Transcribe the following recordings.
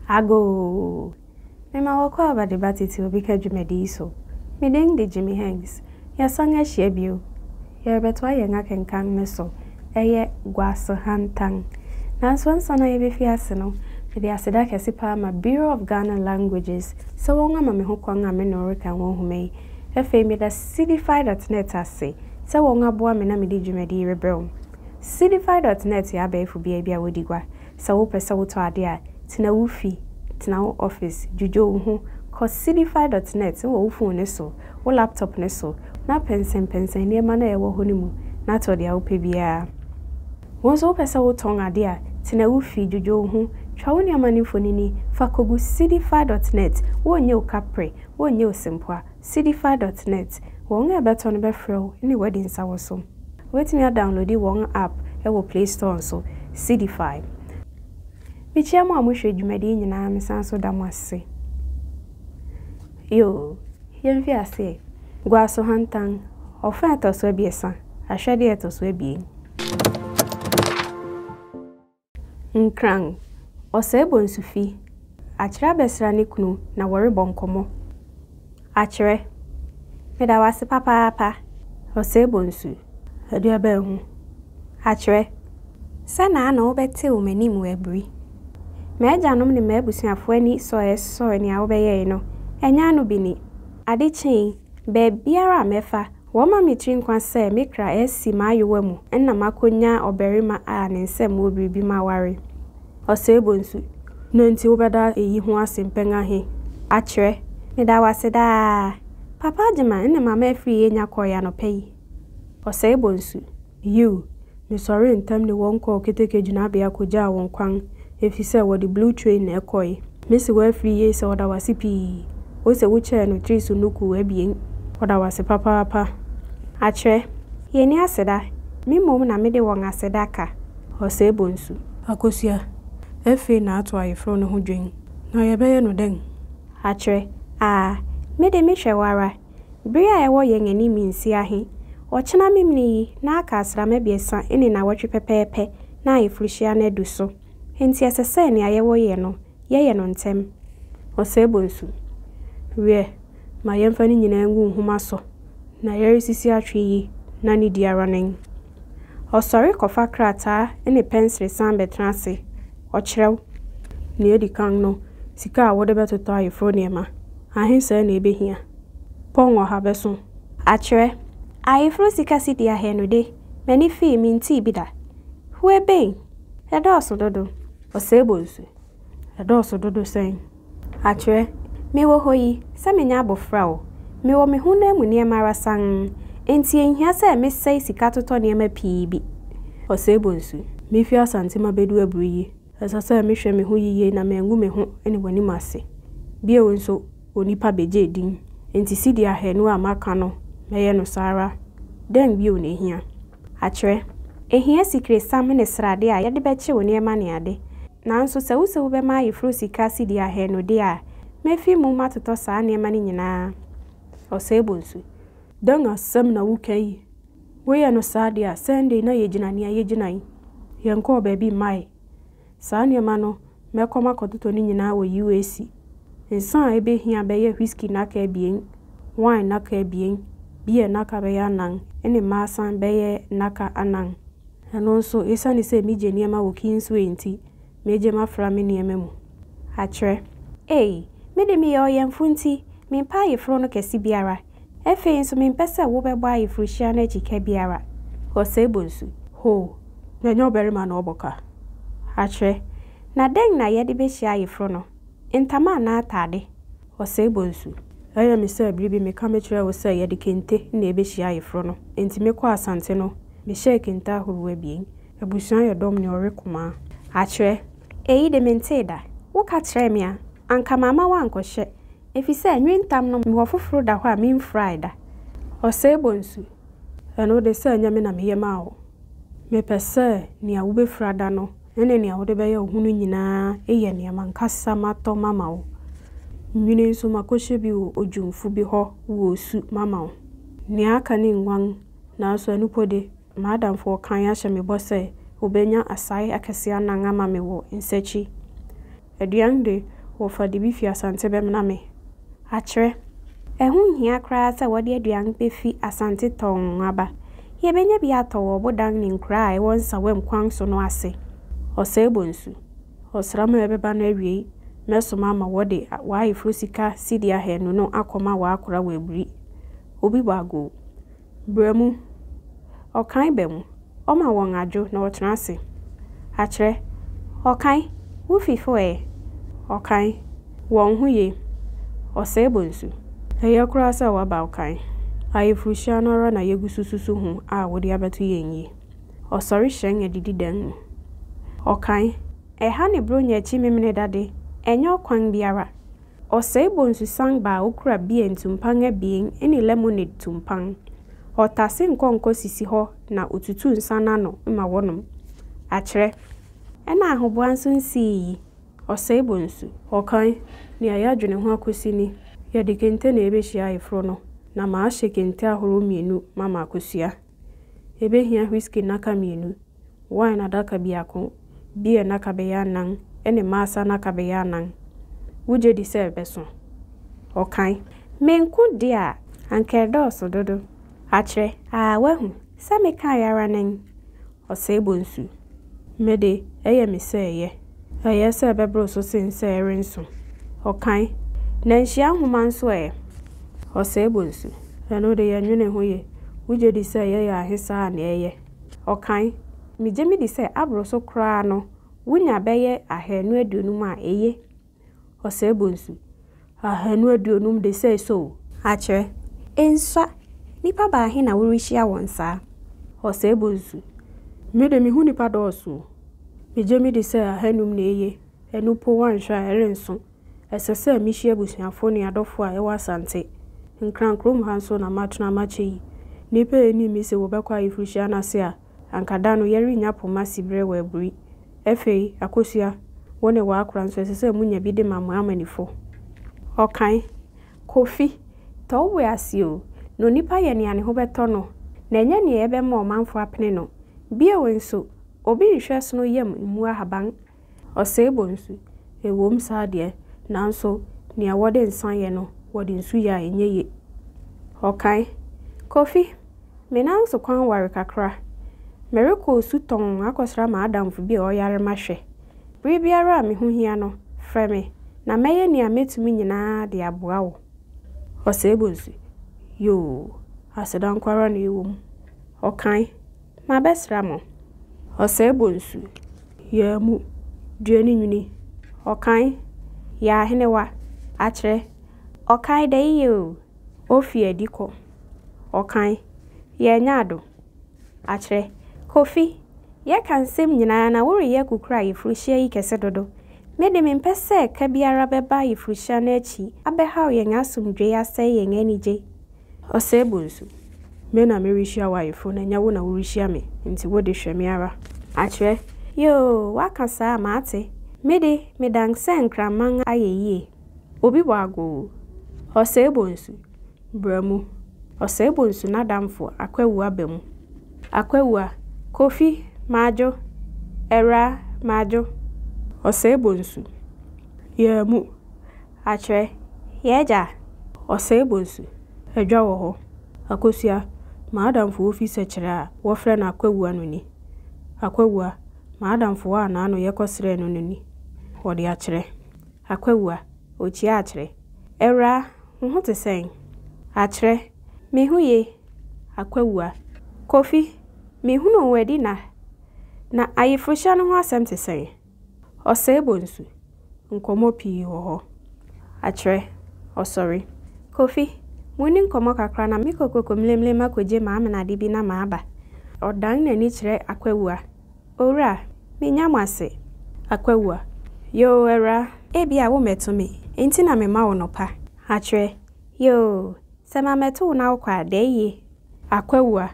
Agoo! Mema wɔkɔ aba de ba titiriw bi ka dwumadi yi so. Me din de Jimmy Hanks. Yɛasan ahyia bio. Yɛrebɛtoa yɛn akenkan no so. Ɛyɛ Guase Hantan. Nanso ansa na yebefi ase no, mede aseda kɛse paa ma Bureau of Ghana Languages sɛ wɔama me hokwan a me ne wo rekan wɔ nhoma yi. Afei meda Cdfi dot net ase. sɛ wɔaboa me na mede dwumadi yi rebrɛ wo. Seedify dot net yɛ abɛɛfo beae bi a wodi gua. Sɛ wopɛ sɛ wotɔ ade a, tena wo fi, tena wo office, dwudwo wo ho, kɔ Seedify dot net wɔ wo fon no so, wo laptop no so, na pɛnsɛnpɛnsɛn nneɛma no a ɛwɔ hɔ no mu na tɔ nea wopɛ biara. Wo nso wopɛ sɛ wotɔn ade a, tena wo fi, dwudwo wo ho, twa wo nneɛma no mfonini, fa kogu Seedify dot net, wonnye wo kapre, wonnye wo sempoa, Cdfy dot net, Wɔn a ɛbɛtɔ no bɛfrɛ wo ne woadi nsa wɔ so. Wobɛtumi adawonlodi wɔn app wɔ Play Store nso. Cdfy. Mekyia mo a mohwɛ dwumadi yi nyinaa mesan so da mo ase. Yoo, yɛmfi aseɛ. Guaso Hantan, Ɔfã a ɛtɔ so abiɛsa, Ahwɛdeɛ a ɛtɔ so abien. Nkran, Ɔsɛe Bonsu fi. Akyerɛ abɛsra ne kunu na wɔrebɔ nkɔmmɔ. Akyerɛ, Meda wo ase papaapa. Ɔsɛe Bonsu, Ɛde abɛn ho. Akyerɛ, Sɛnaa na wobɛtew m'anim wɔ abiri. M'agyanom ne m'abusuafo ani sɔe sɔe nea wobɛyɛe no. Ɛnyɛ ano bi ni. Ade kyee, baabiara a mɛfa, Wɔma me tiri nkwa sɛ me kra resi m'ayowa mu na makonya ɔbarima a ne nsam wɔ biribi ma aware. Ɔsɛe bonsu. Dɛn nti wobɛda eyi ho ase mpɛn ahe akyerɛ? Meda wo ase daa, Papa Agyemang ne Mama Afriyie Nyakɔɔe anɔpa yi. Ɔsɛe bonsu. Yiw, Mesɔree ntɛm de wɔn kɔɔ keteke gyinabea kogyaa wɔn kwan efisɛ wɔde Blue Train na ɛkɔe. Mise wo afiri yie sɛ ɔda wo ase pii. Ose wo kyɛɛ no tiri so nnukuu abien. Ɔda wo ase papaapa. Akyerɛ. Yɛnni aseda. Me mmom na mede wɔn aseda ka. Ɔsɛe bonsu. Akosua. Afei na ato ayeforo no ho dwen. Na yɛbɛyɛ no dɛn? Akyerɛ. Aa. Me de mehwɛ wo ara. Bere a ɛwɔ yɛn anim nsia he, ɔkyena Memenee yi na aka asram abiɛsa ne nnawɔtwe pɛpɛɛpɛ na ayeforhyia no adu so, enti ɛsɛ sɛ nea yɛwɔ yɛ no, yɛyɛ no ntɛm. Ɔsɛebɔnsu, Wiɛ, ma yɛmfa ne nyinaa ngu nhoma so, na yɛresisi atwe yi na ne di ara nen. Ɔsɔre kɔfa krataa ne pɛnsere san bɛtena ase. Ɔkyerɛw. Nea edi kan no, sika a wode bɛtotɔ ayeforo nneɛma, ahe sɛɛ na ebehia? Pɔn ɔha bɛso. Akyerɛ. Ayeforo sika sidi ahanu de, m'ani fii, mintee bi da. Huebei! Ɛdɔɔso dodo! Osebo nso. Ɛdɔɔso dodo sɛn? Atwerɛ, Mewɔ hɔ yi, sɛ menyɛ abɔfra o, mewɔ me honam mu nneɛma ara sann, enti ɛnhia sɛ mesɛe sika totɔ nneɛma pii bi ɔsɛe bɔ nsu. Mefi Asante mabɛdu abiri yi, ɛsɛ sɛ mehwɛ me ho yiye na mangu me ho ne w'anim ase. Bio nso, onipa bɛgye din, enti sidi ahanu a maka no, mɛyɛ no saa ara. Dɛn bio na ɛhia? Akyerɛ, Ehia sikresiam ne srade a yɛde bɛkyew nneɛma ne ade. Nanso sɛ wuse wobɛma ayeforo sika cedi ahanu de a, mefi mu matotɔ saa nneɛma no nyinaa. Ɔsɛebɔnsu. Dɛn asɛm na woka yi? Woyɛ no saa de a, sɛn de na yegyina nea yegyina yi? Yɛnkɔɔ baabi mmae. Saa nneɛma no mɛkɔ makɔtotɔ no nyinaa wɔ UAC. Nsa a ebehia bɛyɛ whisky nnaka abien, wine nnaka abien, beer nnaka bɛyɛ anan, ne mmaasan bɛyɛ nnaka anan. Ɛno nso, esiane sɛ migye nneɛma wɔ Kingsway nti, megye mafra me nneɛma mu. Akyerɛ. Ei, me de meyɛ ɔyɛnfo nti, mempɛ ayeforo no kɛse biara. Afei nso mempɛ sɛ wobɛbɔ ayeforohyia no akyi ka biara wɔ Sebo nsu. Ho, na ɛnyɛ ɔbarima na ɔbɔ ka akyerɛ. Na dɛn na yɛde behyia ayeforo no? Ntama anaa atade wɔ Sebo nsu. Ɛyɛ me sɛ bere bi meka mekyerɛɛ wo sɛ yɛde kente na ebehyia ayeforo no. Enti mekɔɔ asante no, mehyɛɛ kente ahorow abien. Abusua yɛ dɔm ne ɔwe kumaa. Akyerɛ. Eyi de, mentee da. Woka kyerɛɛ me a, anka mamma woankɔhyɛ, efisɛ nnwentam no mewɔ foforo da hɔ a mimfurae da. Ɔsɛebɔ nsu. Ɛno de, sɛ ɛnyɛ me na meyɛ maa wo. Mepɛ sɛ nea wubefura da no ne nea wode bɛyɛ wo ho no nyinaa yɛ nea m'ankasa matɔ mama wo. Nwini nso, makohyɛ bi wɔ odwumfo bi hɔ wɔ osu mama wo. Nea aka ne nguan, nanso ɛno mpo de, M'adamfoɔ Kanye ahyɛ me bɔ sɛ ɔbɛnya asae akɛseɛ anan ama me wɔ nsakyi. Aduan de, wɔfa de bi fi Asante bɛmena me. Akyerɛ. Ɛho nhia koraa sɛ wɔde aduan bɛfi Asante tɔnn aba. Yɛbɛnya bi atɔ wɔ ɔbodan ne nkuraa a ɛwɔ nsawam kwan so no ase. Ɔsɛe Bonsu. Ɔsram a ɛbɛba no awiei, mɛsoma ama wɔde w'ayeforo sika cedi ahanu no akɔma w'akora wɔ abiri. Obi bɔ agoo. Bra mu. Ɔkan ba mu. Ɔma wɔn adwo na wɔtena ase. Akyerɛ. Ɔkan, Wo fifo ɛ? Ɔkan, Wɔn ho ye. Ɔsɛe bɔ nsu. Ɛyɛ koraa sɛ woaba Ɔkan. Ayeforohyia no ara na yegu so susu ho a wode abɛto yɛn yi. Ɔsɔre hyerɛn adidi dan mu. Ɔkan, Ɛha ne Buronya akyi Memeneda de, ɛnyɛ ɔkwan biara. Ɔsɛe bonsusan baa okura beer tumpan abien ne lemonade tumpan. Ɔtase nkɔnkɔ sisi hɔ na otutu nsa no ano ma wɔnom. Akyerɛ. Ɛna ahoboa nso nsii yi, ɔsɛe bonsu. Ɔkan, Nea yɛadwene ho akosi ni, yɛde kente na ebehyia ayeforo no, na mahyɛ kente ahorow mmienu ma makosua. Yɛbɛhia whiskey nnaka mmienu, wine adaka biako, beer nnaka bɛyɛ anan, ne maasa nnaka bɛyɛ anan. Wogye di sɛ ɛbɛso? Ɔkae. Me nko deɛ a, anka ɛdɔɔso dodo. Akyerɛ, aa, woahu, sɛ mekaeɛ ara nen. Ɔsɛe bɔ nsu. Me de, ɛyɛ me sɛ ɛyɛ. Ɛyɛ sɛ ɛbɛboro so sen sɛ ɛrenso. Ɔkan. Na nhyia nhoma nso ɛ? Ɔsɛe bɔ nsu. Ɛno de, yɛnnwene ho ye. Wugye di sɛ ɛyɛ yɛ ahe saa a nea ɛyɛ? Ɔkan. Migye midi sɛ aboro so koraa no, wunya bɛyɛ ahaanu aduonum a eye. Ɔsɛe bonsu. Ahanu aduonum de sɛe so o. Akyerɛ. Ensua, nnipa baahe na worehyia wɔn saa? Ɔsɛe bonsu. Me de me ho nnipa dɔɔso o. Megye me di sɛ ahanum na eye, ɛno mpo woanhwɛ a ɛrenso. Ɛsɛ sɛ mihyia abusuafo ne adɔfo a ɛwɔ Asante. Nkran kurom ha nso na matena makyɛ yi. Nnipa a enii me se wɔbɛkɔ ayeforohyia no ase a anka da no yɛrennya poma siberɛ wɔ aburi. Afei, Akosua, wo ne w'akora nso ɛsɛ sɛ monya bi de ma mo amannifo. Ɔkae, Kofi, tɔ wo bo ase o, na onipa yɛ nea ne ho bɛtɔ no, na ɛnyɛ nea ɛbɛma ɔmanfo apene no. Bio nso, obi nhwɛ sono yam mmu ahaban Ɔsɛe bɔ nsu. Ɛwom, saa deɛ, nanso nea wɔde nsã yɛ no, wɔde nsu yɛ a, ɛnyɛ ye. Ɔkae, Kofi, me nan so kwan ware kakra. Merekɔ osutɔn akɔsra m'adamfo bi a ɔyare mahwɛ. Bere biara a me ho hia no, frɛ me, na mɛyɛ nea mɛtumi nyinaa de aboa wo. Ɔsɛe bɔ nsu, Yoo, aseda nko ara na ɛwom. Ɔkae. Mabɛsra mo. Ɔsɛe bonsu. Yaa mu. Dua ne nwini. Ɔkan. Yaa henewa. Akyerɛ. Ɔkan dɛ yiyɛ o. Ofi adi kɔ. Ɔkan. Yaa nya ado. Akyerɛ. Kofi, yɛ ka nsɛm nyinaa na woreyɛ kukura ayeforohyia yi kɛse dodo. Me de mempɛ sɛ ka biara bɛba ayeforohyia no akyi abɛhaw yɛn asomdwoe asɛe yɛn anigye. Ɔsɛe bo nso. Me na merehyia w'ayeforo no, ɛnyɛ wo na worehyia me, enti wo de, hwɛ me ara. Akyerɛ. Yoo, woaka saa a, mate. Me de, medan sɛ nkraman a. Ayɛ yie. Obi bɔ agoo. Ɔsɛe bo nso. Bra mu. Ɔsɛe bo nso n'adamfo, Akwawua ba mu. Akwawua, Kofi, madwo. Awuraa, madwo. Ɔsɛe bo nso. Yɛn mu. Akyerɛ, Yɛn Agya! Ɔsɛe bonsu. Adwa wɔ hɔ. Akosua, M'adamfo ofi Sɛkyerɛ a wɔfrɛ no Akwawua no ni. Akwawua, M'adamfo a n'ano yɛ kɔsrɛɛ no no ni. Wɔde akyerɛ. Akwawua, Okyia akyerɛ. Awuraa, wo ho te sɛn? Akyerɛ, Me ho ye. Akwawua, Kofi, mehunuu wo adi nna. Na ayeforohyia no ho asɛm te sɛn? Ɔsɛebɔ nsu, nkɔmmɔ pii wɔ hɔ. Akyerɛ, ɔsɔre. Kofi, monni nkɔmmɔ kakra na mekɔ Kokomlemlem akogye m'amenade bi na maba. Ɔdan n'ani kyerɛ Akwawua. Owura, menya mo ase. Akwawua, Yoo, awuraa, ebia wommɛto me, enti na mema wo nɔpa. Akyerɛ, Yoo, Sɛ ma mɛto wo na wokɔ a, dɛ eye. Akwawua,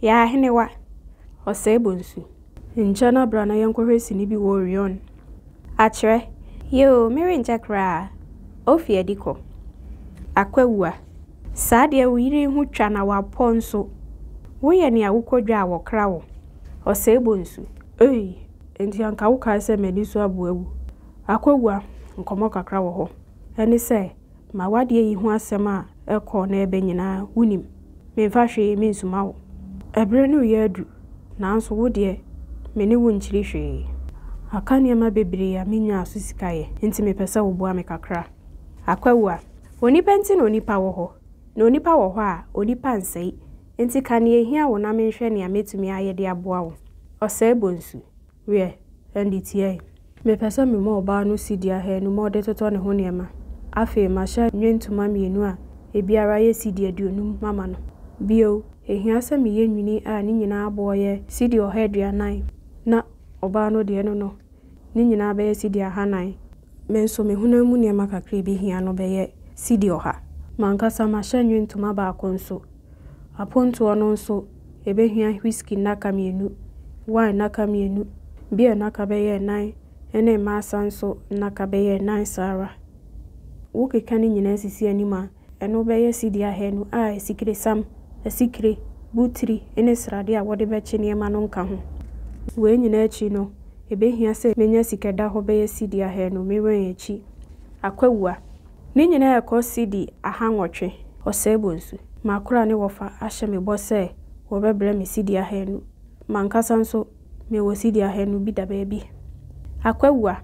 yɛ ahenewa, ɔsɛe bɔ nsu. Nkyɛ na bra na yɛnkɔhwɛ sini bi wɔ Orion. Akyerɛ, Yɛ oo, merenkyɛ koraa. Ofi adi kɔ. Akwawua, Saa deɛ wo yere ho twa na wapɔ nso. Woyɛ nea wokɔ dwa a wɔkra wo. Ɔsɛe bɔ nsu. Ei, enti anka wokae sɛ m'ani so aboa awu. Akwawua, Nkɔmmɔ kakra wɔ hɔ. Ɛne sɛ. Ma w'adeɛ yi ho asɛm a ɛrekɔ na ɛreba nyinaa, wonim. Memfa hwee mensuma wo. Ɛberɛ no reyɛ adu, nanso wo deɛ, me ne wo nkyiri hwee. Aka nneɛma bebree a mennyaa so sika yɛ, enti mepɛ sɛ woboa me kakra. Akwawua. Onipa nti na onipa wɔ hɔ, na onipa wɔ hɔ a, onipa nsɛe. Enti ka nea ɛhia wo na menhwɛ nea mɛtumi ayɛ de aboa wo. Ɔsɛebonsu. Wiɛ, ɛnde tie. Mepɛ sɛ mema ɔbaa no sidi ahanu ma ɔde totɔ ne ho nneɛma. Afei mahyɛ nnwentoma mmienu a ebiara yɛ sidi aduonum mama no. Bio, ehia sɛ meyɛ nwini a ne nyinaa boɔ yɛ sidi ɔha aduanan, na ɔbaa no deɛ no no, ne nyinaa bɛyɛ sidi ahanan. Me nso me honam mu nneɛma kakra a ɛbɛhia no bɛyɛ sidi ɔha. M'ankasa mahyɛ nnwentoma baako nso Apontoɔ no nso, yɛbɛhia whiskey nnaka mmienu, wine nnaka mmienu, beer nnaka bɛyɛ nnan, ɛne mmaasa nso nnaka bɛyɛ nnan saa ara. Wokeka ne nyinaa sisi anim a, ɛno bɛyɛ cedi ahanu a asikiresam, asikire, botiri ne sradeɛ a wɔde bɛkye nneɛma no nka ho. Wei nyinaa akyi no, ɛbɛhia sɛ menya sika da hɔ bɛyɛ cedi ahanu, me wɛn akyi. Akwawua. Ne nyinaa rekɔ cedi ahanwɔtwe. Ɔsɛebonsu, M'akora ne wɔfa ahyɛ me bɔ sɛ wɔbɛbrɛ me cedi ahanu. M'ankasa nso, mewɔ cedi ahanu bi da baabi. Akwawua,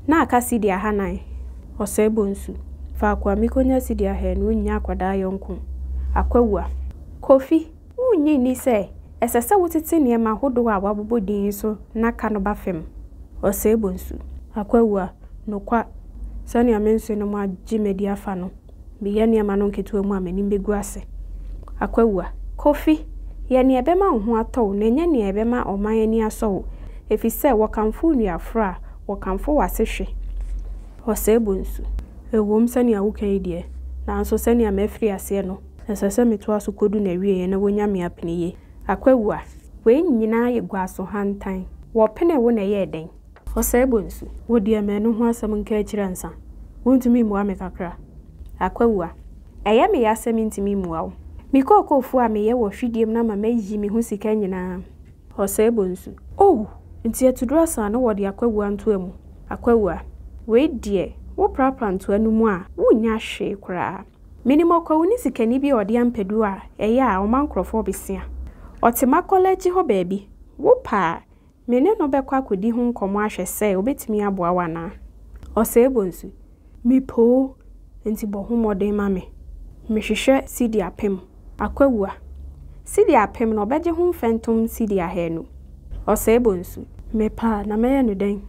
Na aka cedi ahanan. Ɔsɛebonsu, Faako a mikonya cedi ahanu nnya akwadaa yɔnko. Akwawua, Kofi, Wunnye nni sɛ ɛsɛ sɛ wotete nneɛma horow a wɔabobɔ din yi so nnaka no ba fam? Ɔsɛebɔ nsu. Akwawu a, nokwa, sɛnea me nsono mu agye madi afa no, meyɛ nneɛma no nketewa mu a m'anim begu ase. Akwawu a. Kofi, yɛ nea ɛbɛma wo ho atɔ wo na nyɛ nea ɛbɛma ɔman ani asɔ wo, efisɛ wɔkamfo wo nuaforo a, wɔkamfo w'asehwe. Ɔsɛebɔ nsu. Ɛwom, sɛnea woka yi deɛ, nanso sɛnea mafiri aseɛ no, Ɛsɛ sɛ metoa so kodu n'awieɛ na wɔnya me apene yie. Akwawu a. Wei nyinaa yɛ guaso hantan. Wɔpenee wo na ɛyɛɛ dɛn? Ɔsɛe bɔ nsu. Wo deɛ manu ho asɛm nka akyiri ansa. Wontumi mmua me kakra? Akwawu a. Ɛyɛ me ya sɛ mentumi mmua wo. Me kookoofo a meyɛ wɔ hwidiem no ama mayi me ho sika nyinaa. Ɔsɛe bɔ nsu. Oh! Nti atuduro asaa na wɔde Akwawu a ntoa mu? Akwawu a. Wei deɛ, woprapra ntoa no mu a, wonnya hwee koraa. Minim ɔkwawuni sikani bi a ɔde ampedu a ɛyɛ a ɔma nkurɔfo ɔbesia. Ɔte Makɔla akyi hɔ baabi. Wopɛ a, me ne no bɛkɔ akodi ho nkɔmmɔ ahwɛ sɛ obetumi aboa wo anaa. Ɔsɛe bonsu. Mepɛ o, enti bɔ ho mmɔden ma me. Mehwehwɛ sidi apem. Akwawua, cedi apem na ɔbɛgye ho mfɛntom cedi ahanu. Ɔsɛebɔ nsu. Mepɛ a, na mɛyɛ no dɛn?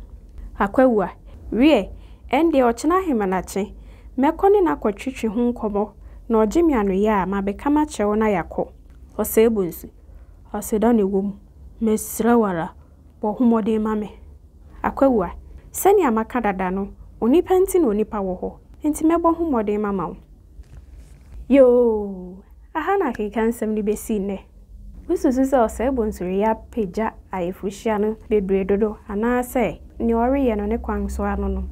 Akwawua, Wiɛ, ɛnde ɔkyena ahemanakye, mɛkɔ ne no akɔtwetwe ho nkɔmmɔ, na ɔgye me anoyɛ a, mabɛka makyerɛ wo na yɛakɔ. Ɔsɛebɔ nsu. Aseda na ɛwɔ mu. Mesrɛ wo ara, bɔ ho mmɔden ma me. Akwawua, Sɛnea maka dada no, onipa nti na onipa wɔ hɔ, enti mɛbɔ ho mmɔden mama wo. Yoo! Aha na akekansɛm no besi nnɛ. Wususu sɛ ɔsɛe bonsoyɛ yi apagya ayeforohyia no bebree dodo anaasɛ nea ɔreyɛ no ne kwan so ara no no?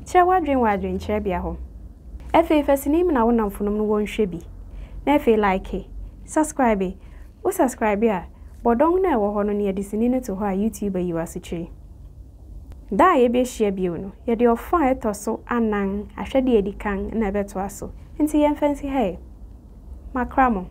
Kyerɛ w'adwene wɔ adwenkyerɛbea hɔ. Afei fa sini mena wo nnamfonom no wɔnhwɛ bi, na afei like, subscribe. Wo subscribe a, bɔ dɔn no a ɛwɔ hɔ no nea de sini no to hɔ a YouTube ayi wo asekyiri. Da a yebehyia bio no, yɛde ɔfã a ɛtɔ so anan, ahwɛde a edi kan, na ɛbɛtoa so. Enti yɛmfa nsi ha ɛ. Makra mo.